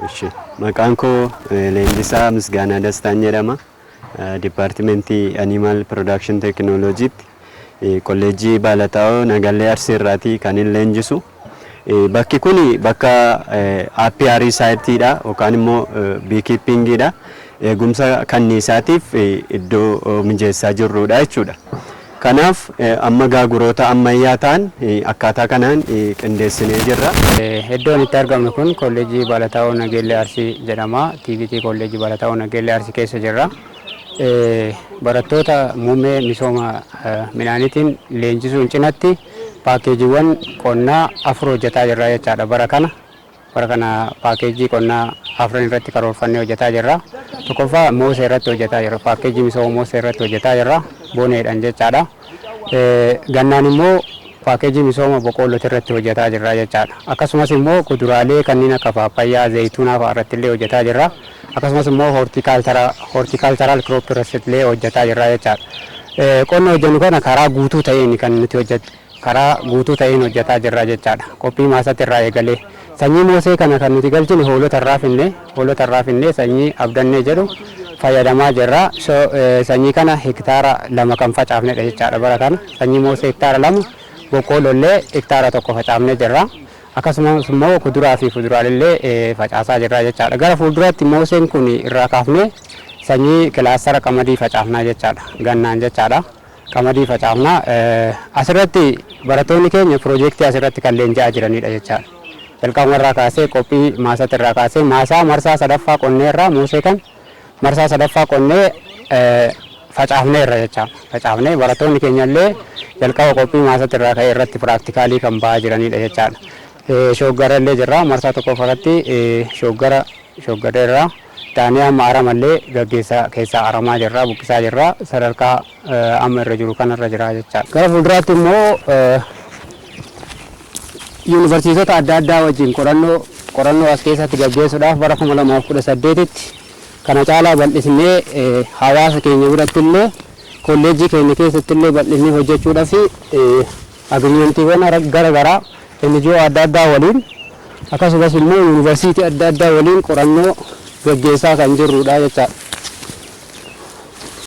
Eshi. Maqaan koo Leenjisaa Misgaanaa Dastaan jedhama. Dipaartimentii Animal Production Technology'tti kolleejjii Baalataawoo Nagallee Arsii irraati kan hin leenjisu. Bakki kun bakka apiary site dha yookaan immoo beekeeping dha. Eegumsa kanniisaatiif iddoo mijeessaa jirrudha jechuudha. Kanaaf amma gaaguroota ammayyaa ta'an akkaataa kanaan qindeessinee jirra. Eddoon itti argamnu kun Kolleejjii Baalataawoo Nageellee Arsii jedhama. TVT Kolleejjii Baalataawoo Nageellee Arsii keessa jirra. Barattoota muummee misooma midhaaniitiin leenjisuun cinatti paakkeejiiwwan qonnaa afur hojjetaa jirra jechaadha bara kana. Bara kana paakkeejjii qonnaa afran irratti karoorfannee hojjetaa jirra. Tokkoffaa moosee irratti hojjetaa jirra. Paakkeejjii misooma moosee irratti hojjetaa jirra. Boneedhaan jechaadha. Gannaan immoo paakkeejjii misooma boqoolloti irratti hojjetaa jirra jechaadha. Akkasumas immoo kuduraalee kanneen akka paappayyaa, zayituunaa fa'a irratti illee hojjetaa jirra. Akkasumas immoo hortiikaalcharaal kirooppi irratti illee hojjetaa jirra jechaadha. Qonna hojjennu kana karaa guutuu ta'een kan nuti hojjetu. karaa guutuu ta'een hojjataa jirra jechaadha. Qophii maasati irraa eegalee. Sanyii moosee kana kan nuti galchine hoolota irraa finne. Hoolota irraa finnee sanyii abdannee jedhu fayyadamaa jirra. So sanyii kana hektaara lama kan facaafnedha jechaadha bara kana. Sanyii moosee hektaara lama, boqqoolloollee hektaara tokko facaafnee jirra. Akkasumas immoo kuduraa fi fuduraalellee facaasaa jirra jechaadha. Gara fuulduraatti mooseen kun irraa kaafnee sanyii kilaastara qamadii facaafnaa jechaadha. Gannaan jechaadha. qamadii facaafna. Asirratti barattoonni keenya piroojeektii asirratti kan leenji'aa jiranidha jechaadha. Jalqabumarraa kaasee qophii maasatti irraa kaasee maasaa marsaa sadaffaa qonneerraa muusee kan marsaa sadaffaa qonnee facaafneerra jecha facaafnee barattoonni keenyallee jalqaba qophii maasatti irraa ka'ee irratti piraaktikaalii kan ba'aa jiranidha jechaadha. Shooggarallee jirra marsaa tokkoffaa irratti shooggara shooggareerra. taanee amma arama illee gaggeessaa keessaa aramaa jirra, buqqisaa jirra. Sadarkaa amma irra jiru kana irra jira jechaa dha. Gara fuulduraatti immoo yuunivarsiitota adda addaa wajjin qorannoo qorannoo as keessatti gaggeessuudhaaf bara 2018tti kana caalaa bal'isnee hawaasa keenya biratti illee kolleejjii keenya keessatti illee bal'isnee hojjechuudhaaf Agiriimentiiwwan gara garaa NGO adda addaa waliin akkasumas immoo yuunivarsiitii adda addaa waliin qorannoo gaggeessaa kan jirrudha jechaadha.